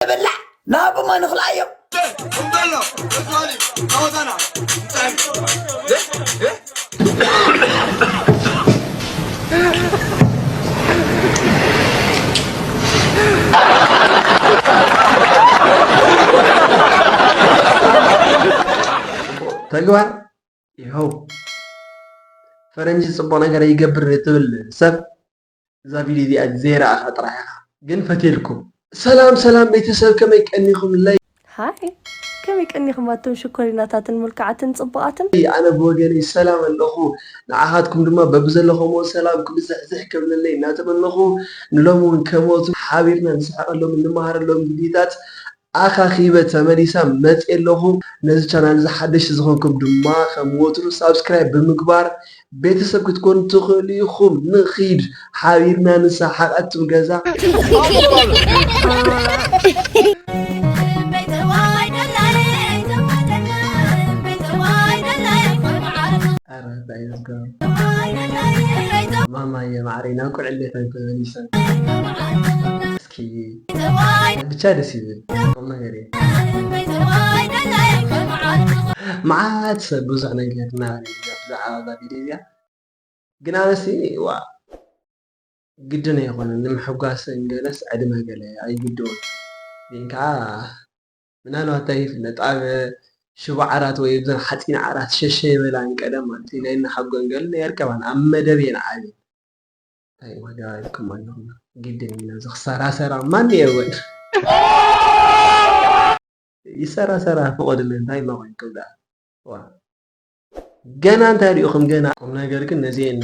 ንብላዕ ንሃብሞ ንኽልኣዮም። እምበሎ እትበሊ ጸወታና ተግባር ይኸው ፈረንጂ ፅቡቅ ነገር ይገብር ትብል ሰብ እዛ ቪድዮ እዚኣ ዘይረኣኻ ጥራሕ ኢኻ ግን ፈትየልኩም። ሰላም ሰላም ቤተሰብ ከመይ ቀኒኹምለይ? ሃይ ከመይ ቀኒኹም ኣቶም ሽኮሪናታትን ሙልክዓትን ጽቡቓትን? ኣነ ብወገነይ ሰላም ኣለኹ፣ ንዓኻትኩም ድማ በብዘለኹምዎ ሰላምኩም ብዝሕዝሕ ከብለለይ እናተመነኹ ንሎሚ እውን ከምኦቱ ሓቢርና ንስሕቐሎምን ንመሃረሎምን ቪድዮታት ኣኻኺበ ተመሊሰ መፅየ ኣለኹ። ነዚ ቻናል እዚ ሓደሽቲ ዝኾንኩም ድማ ከም ወትሩ ሳብስክራይብ ብምግባር ቤተሰብ ክትኮኑ ትኽእሉ ኢኹም። ንኺድ ሓቢርና ንሰሓቕ ኣቱም ገዛ። ኧረ እንታይ እዩ ዝገርም ማማየ ማዓረይ ናብ ቁልዕነተይ ተመሊሰ። ክይ ብቻ ደስ ይብል ቁምነገር እዩ። መዓት ሰብ ብዙሕ ነገር እናበለኒ እዛ ብዛዕባ እዛ ቪድዮ እዚኣ ግን ኣነሲ ዋእ ግድን ኣይኮነን ንምሕጓስ ገለስ ዕድመ ገለ ኣይግድኡን ግን ከኣ ምናልባት ታይ ይፍለጥ ኣብ ሽቦ ዓራት ወይ ብዘን ሓፂን ዓራት ሸሸ ይበላን ቀደም ማለት እዩ ናይ እነ ሓጎን ገሉ ኣይርከባን ኣብ መደብ እየን ዓብየን ታይ ዋጋ ኢልኩም ኣለኹም ግድን እዩ ነዚ ክሰራሰራ ማን የወን ይሰራሰራ ፍቐድለን ታይ ማኾንኩም ደኣ ዋእ ገና እንታይ ሪኢኹም ገና ቁምነገር ግን ነዚኤን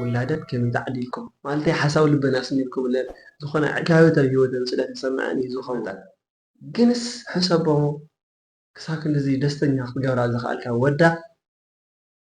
ውላዳት ከመይ ተዓዲልኩም ማለተይ ሓሳብ ልበን ኣስሚርኩምለን ዝኾነ ዕጋበት ኣብ ሂወተን ስለ ተሰመዐን እዩ ዝኸውን ግንስ ሕሰቦ ክሳብ ክንድዚ ደስተኛ ክትገብራ ዝኸኣልካ ወዳ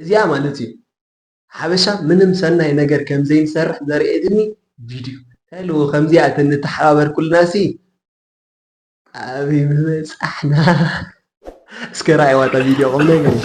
እዚኣ ማለት እዩ ሓበሻ ምንም ሰናይ ነገር ከም ዘይንሰርሕ ዘርእየትኒ ቪድዩ እንታይ ኣለዎ ከምዚኣ ተንተሓባበር ኩልናሲ ኣበይ ምበጻሕና እስከ ረኣይዋ እታ ቪድዮ ቁም ነገር እዩ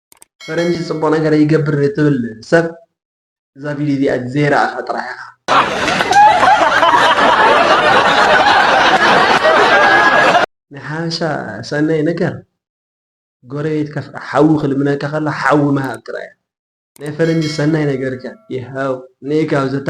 ፈረንጂ ጽቡቅ ነገር ይገብር ትብል ሰብ እዛ ቪድዮ እዚኣ ዘይረኣኻ ጥራሕ ኢኻ ናይ ሓበሻ ሰናይ ነገር ጎረቤትካ ሓዊ ክልምነካ ከሎ ሓዊ ምሃብ ጥራይ ናይ ፈረንጂ ሰናይ ነገርከ ይሃው ንእካብ ዘታ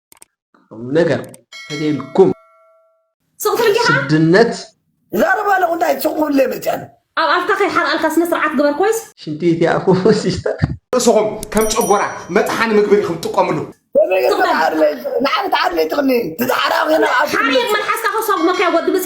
ቁምነገር ተልየልኩም ስድነት። ዛረባ ኣለኹ እንታይ ሱቕ ክብልለይ መጺኣ ኣነ። ኣብ ኣፍካ ከይሓርኣልካ ስነ ስርዓት ግበር ኮይስ። ሽንቲ እቲ ኣፉ ሲስተር። ርእስኹም ከም ጨጎራ መጥሓኒ ምግቢ ኢኹም ትጥቀምሉ። ከመይ ጌርካ ትዓርለይ ንዓኺ ትዓርለይ ትኽኒ ትዝሓርኣ ኮይና ኣብ ሓርየት መልሓስካ ከሳጉመካዮ ወዲ ብጽ።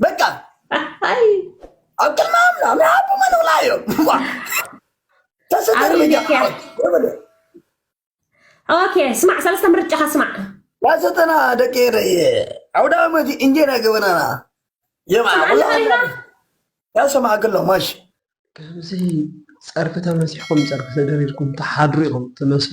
በቃ ኣይ ኣብ ቅድሚ ኣምና ምናቡ መንውላ እዮም ተሰደር ሚዲያ ኦኬ ስማዕ ሰለስተ ምርጫኻ ስማዕ ያሰተና ደቂ ረየ ዓውደ ዓመት እንጀራ ገበናና የማዕላ ያሰማዕ ክሎ ማሽ ከምዚ ጸርፊ ተመሲሕኩም ጸርፊ ተደሪርኩም ተሓድሩ ኢኹም ትመስሉ